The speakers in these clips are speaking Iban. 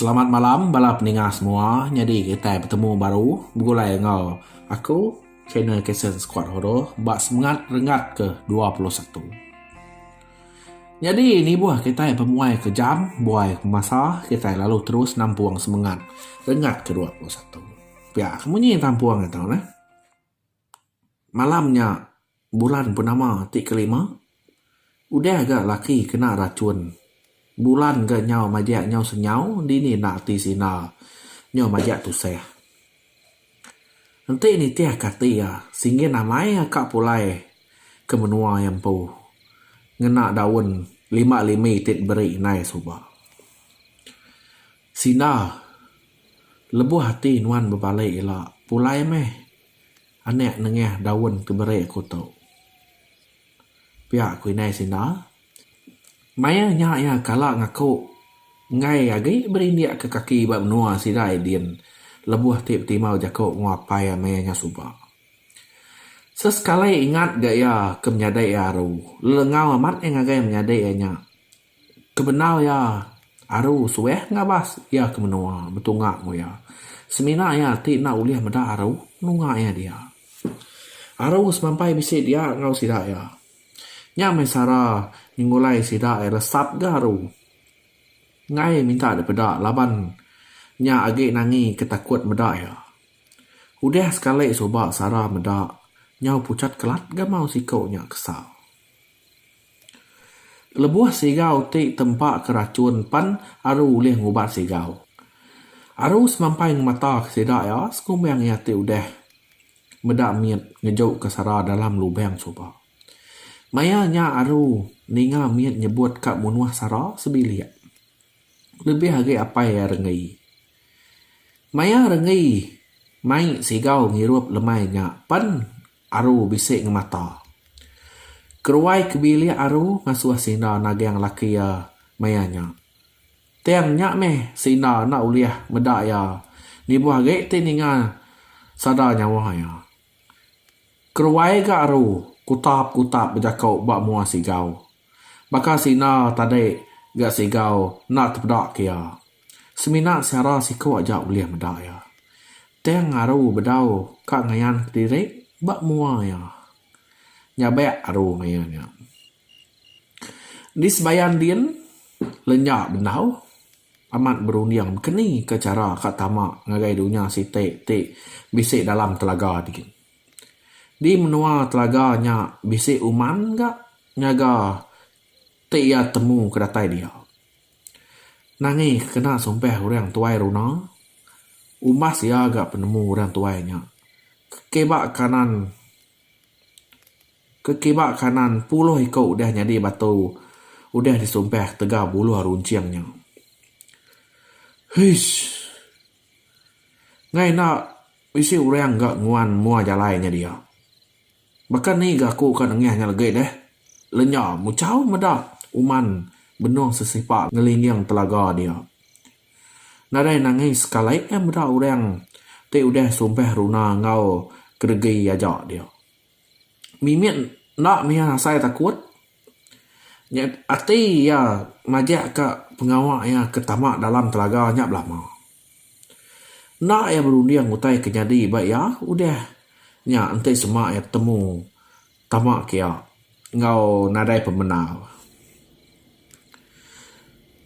Selamat malam bala peninga semua nyadi kitai betemu baru begulai enggau aku Trainer Kason Squad Horor ba semengat renggat ke dua puluh satu. Nyadi nibuh kitai pemuai ke jam buai pemasa kitai lalu terus nampung semengat renggat ke dua puluh satu. Pia ke munyi tampung atu neh. Malam nya bulan purnama ti kelima, udah ga laki kena rachun. Bulan ga nyau majak nyau senyau, dini enda ati sida nyau majak tusah. Enti nitih ka ati iya, singkin amai iya ka pulai ke menua iya empu ngena daun lima limi ti diberi indai suba. Sida lebuh ati nuan bebali ila, pulai meh. Anak nengah daun ke beri aku tu. Pia ku indai sida. Maya nya iya kala ngaku enggai agi berindik ke kaki ba menua sida Edin lebuh ti betimau jaku enggau apai ama iya nya suba. Sesekali ingat ga iya ke menyadi iya aru, lelengau amat iya ngagai menyadi iya nya. Ke bendar iya aru suweh ngabas iya ke menua betunga enggau iya. Semina iya ti enda ulih meda aru nunga iya dia. Aru semampai bisi dia enggau sida iya. Nya meh sara nyengulai sida iya resap ga aru. Enggai minta dipeda laban nya agi nangi ke takut meda iya. Udah sekali suba sara meda nyau puchat kelat ga mau siku nya kesal. Lebuh sigau ti tempa ke rachun pen aru ulih ngubat sigau. Aru semampai ngemata ke sida iya sekumbang iya ti udah meda mit ngeju ke sara dalam lubang suba. Maya nya aru ninga mit nyebut ka munuh sara sebilik. lebih agi apai iya rengei. Maya rengei mai sigau ngirup lemai nya pan aru bisi ngemata. Keruai ke bilik aru ngasuh sinda nagang laki iya maya nya. Tang nya meh sinda enda ulih meda iya lebuh agi ti ninga sada nyawa iya. Keruai ga aru kutap-kutap bejako ba mua sigau. Baka sina tadi ga Sigau enda tepeda ke iya. Semina siara siku aja ulih meda iya. Tang Aru bedau ka ngayan kediri ba mua iya. Nyabek Aru ngayan iya. Di sebayan din, lenya bendau amat berunding baka ni ka chara ka tama ngagai dunya siti ti bisi dalam telaga din. Di menua telaga nya bisi uman ga nyaga ti iya temu ke datai dia. Nangi ke kena sumpah orang tuai runa umbas iya ga penemu orang tuai nya ke kiba kanan ke kiba kanan puluh iko udah nyadi batu udah disumpah tega buluh runcing nya. Hais. Ngai enda bisi orang ga nguan mua jalai nya dia. Baka ni ga aku ka nengah nya legi deh. Lenya muchau meda uman benung sesipa ngelinding telaga dia. Nadai nangi sekali meda orang ti udah sumpah runa enggau kedegi aja dia. mimit enda miah asai takut nya ati iya majak ka pengawa iya ke tama dalam telaga nya belama. Enda iya berunding utai ke nyadi ba iya udah nya enti sema iya betemu tama ke iya enggau nadai pemendar.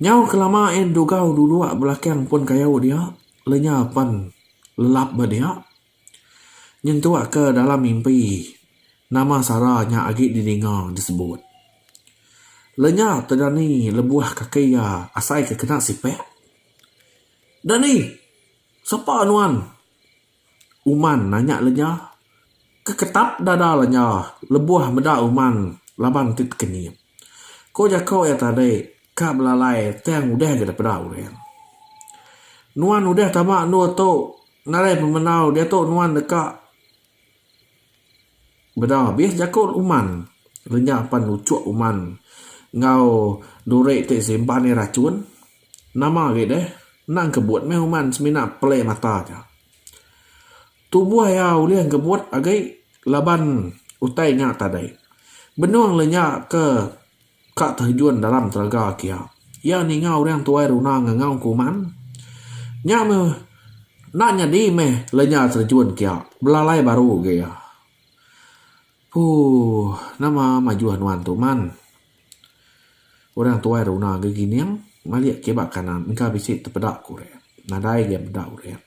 Nyau ke lama iya didugau dudok belakang pun kayu dia lenyau pan lelap ba dia. Nyentuk ke dalam mimpi, nama sara nya agi didinga disebut. Lenya tu dani lebuh kaki iya asai ke kena sipek. Dani! Sapa nuan? Uman nanya lenya. Keketap dada lenya lebuh meda uman laban ti pekenyit. Ko jako iya tadi. Ka belalai tang udah ga dipeda orang. Nuan udah tama endur tu ngagai pemendau diatu nuan deka beda abih jaku uman renyah pan nuchuk uman enggau duri ti simpan iya rachun. Nama agi deh nang kebut meh uman semina pelai mata aja. Tubuh iya ulih kebut agi laban utai nya tadi. Benung le nya ke. Ka terjun dalam telaga kia. Iya ninga orang tuai runa ngangau kuman. Nya meh enda nyadi meh lenya terjun kia. Belalai baru agi iya. Puuh nama majuh nuan tu man. Orang tuai runa agi gining malik kiba kanan engka bisi tepeda ku orang. Nadai agi meda orang.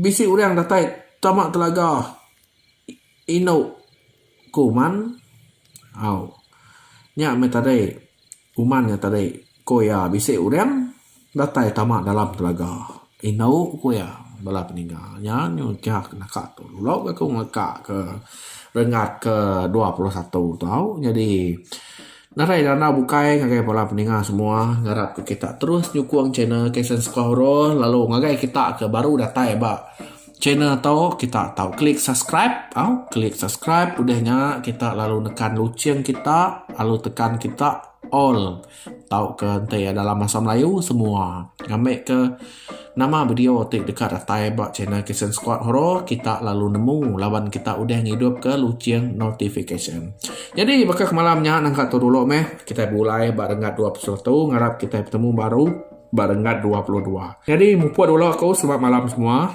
Bisi orang datai tama telaga indu ku uman. Au. Nya meh tadi uman nya tadi ku iya bisi orang datai tama dalam telaga indu ku iya bala peninga nya nyuai kiha ke naka tu lalu agak ku ngaka ke renggat ke dua puluh satu tau nyadi Nadai randau bukai ngagai bala peninga semua ngarap ke kita terus nyukung channel KSN Skuah Oroh lalu ngagai kita ke baru datai ba channel tu kita tau klik subscribe tau klik subscribe udah nya kita lalu nekan lucheng kita lalu tekan kita all tauka enti dalam bahasa melayu semua ngambika. Nama video ti deka datai ba channel Kitchen Squad Horo kita lalu nemu laban kita udah ngidup ke luching notification. Nyadi baka ke malam nya nangka tu dulu meh kitai begulai ba renggat dua puluh satu ngarap kitai betemu baru ba renggat dua puluh dua. Nyadi mupuk dulu aku selamat malam semua.